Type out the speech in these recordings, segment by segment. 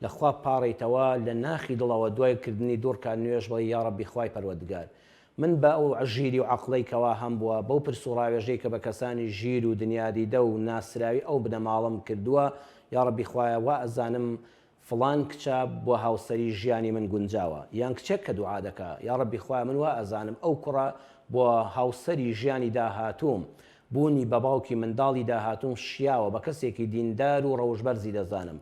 لە خوا بپاڕیتەوە لە ناخی دڵەوە دوای کردنی دوو ڕکات نوێژ بڵێی یاڕەبی خوای پەروەدگار من بە ئەو ژیری و عەقڵەی کەوا هەمبووە بەو پرس و ڕاوێژەی کە بە کەسانی ژیر و دنیادیدە و ناسراوی ئەو بنەماڵەم کردووە یاڕەبی خوایە وا ئەزانم فڵان کچە بۆ هاوسەری ژیانی من گونجاوە یان کچێک کە دوعا دەکا یاڕەبی خوایە من وا ئەزانم ئەو کوڕە بۆ هاوسەری ژیانی داهاتووم بوونی بە باوکی منداڵی داهاتووم شیاوە بە کەسێکی دیندار و ڕەوشبەرزی دەزانم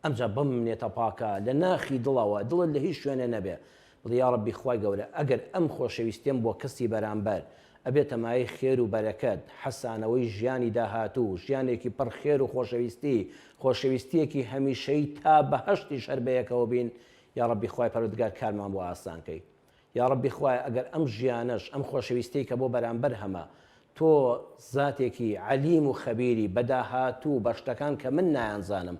ئەمجا بەم منێتە پاکە لە ناخی دڵەوە، دڵت لە هیچ شوێنێ نەبێ، بڵێ، یا رەبی خوای گەورە ئەگەر ئەم خۆشەویستیەم بۆ کەسی بەرامبەر، ئەبێتە مایەی خێر و بەرەکەت، حەسانەوەی ژیانی داهاتوو، ژیانێکی پڕ خێر و خۆشەویستی، خۆشەویستیەکی هەمیشەیی تا بەهەشتیش هەر بەیەکەوە بین، یا رەبی خوای پەروەردگار کارمان بۆ ئاسان کەی. یاڕەبی خوایە ئەگەر ئەم ژیانەش ئەم خۆشەویستیەی کە بۆ بەرامبەر هەمە تۆ زاتێکی عەلیم و خەبیری بە داهاتوو بە شتەکان کە من نایانزانم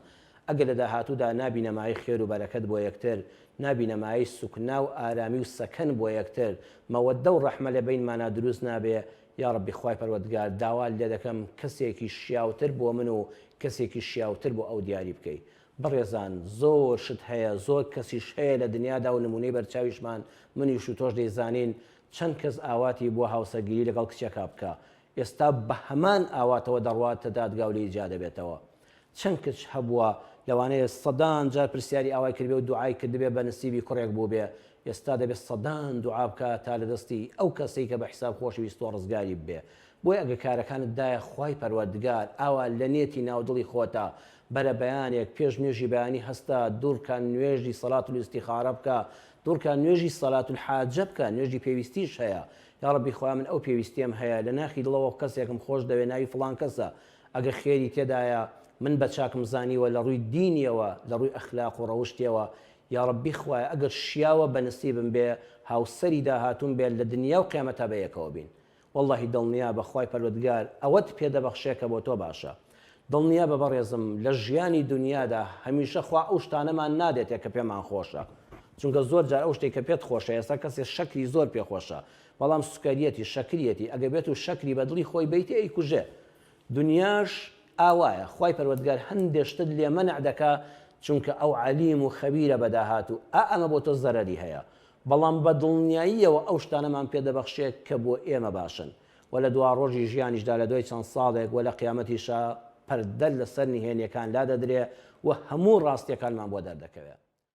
ئەگەر لە داهاتوودا نابینە مایەی خێر و بەرەکەت بۆ یەکتر نابینە مایەی سوکنا و ئارامی و سەکەن بۆ یەکتر مەوەدە و ڕەحمە لە بەینمانا دروست نابێ یاڕەبی خوای پەروەردگار داوات لێ دەکەم کەسێکی شیاوتر بۆ من و کەسێکی شیاوتر بۆ ئەو دیاری بکەی بەڕێزان زۆر شت هەیە زۆر کەسیش هەیە لە دنیادا و نمونەی بەرچاویشمان منیش و تۆش دەیزانین چەند کەس ئاواتی بوە هاوسەرگیری لەگەڵ کچێکا بکا ئێستا بە هەمان ئاواتەوە دەڕواتە دادگا و لێی جیا دەبێتەوە چەند کچ هەبوە لەوانەیە سەدان جار پرسیاری ئاوای کردبێ و دوعای کردبێ بە نسیبی کوڕێک بوبێ ئێستا دەبێ سەدان دوعا بکا تا لە دەستی ئەو کەسەی کە بە حیساب خۆشویستوە ڕزگاری ببێ بۆیە ئەگەر کارەکانت دایە خوای پەروەردگار ئاوا لە نێتی ناو دڵی خۆتا بەرە بەیانێک پێش نوێژی بەیانی هەستە دوڕکە نوێژی صلات الاستخارە بکە دوڕکە نوێژی صلات الحاجە بکە نوێژی پێویستیش هەیە یاڕەبی خوایە من ئەو پێویستیەم هەیە لە ناخی دڵەوە کەسێکم خۆش دەوێ ناوی فڵان کەسە ئەگەر خێری تێدایە من بە چاکم زانیوە لە ڕووی دینیەوە لە ڕووی ئەخلاق و ڕەوشتیەوە یاڕەبی خوایە ئەگەر شیاوە بە نسیبم بێ هاوسەری داهاتووم بێت لە دنیا و قیامەتا بەیەکەوە بین وەڵڵاهی دڵنیابە خوای پەروەردگار ئەوەت پێ دەبەخشێ کە بۆ تۆ باشە دڵنیابە بەڕێزم لە ژیانی دونیادا هەمیشە خوا ئەو شتانەمان نادێتێ کە پێمان خۆشە چونکە زۆر جار ئەو شتەی کە پێت خۆشە ئێستا کەسێ شەکری زۆر پێ خۆشە بەڵام سوکەریەتی شەکریەتی ئەگەر بێتو شەکری بە دڵی خۆی بەیتێ ئەیکوژێ دونیاش ئاوایە خوای پەروەردگار هەندێ شتت لێ مەنع دەکا چونکە ئەو عەلیم و خەبیرە بە داهاتو ئا ئەمە بۆ تۆ زەرەری هەیە بەڵام بە دڵنیاییەوە ئەو شتانەمان پێ دەبەخشێت کە بۆ ئێمە باشن و لە دواڕۆژی ژیانیشدا لە دوای چەند ساڵێک و لە قیامەتیشا پەردە لەسەر نهێنیەکان لادەدرێ و هەموو ڕاستیەکانمان بۆ دەردەکەوێ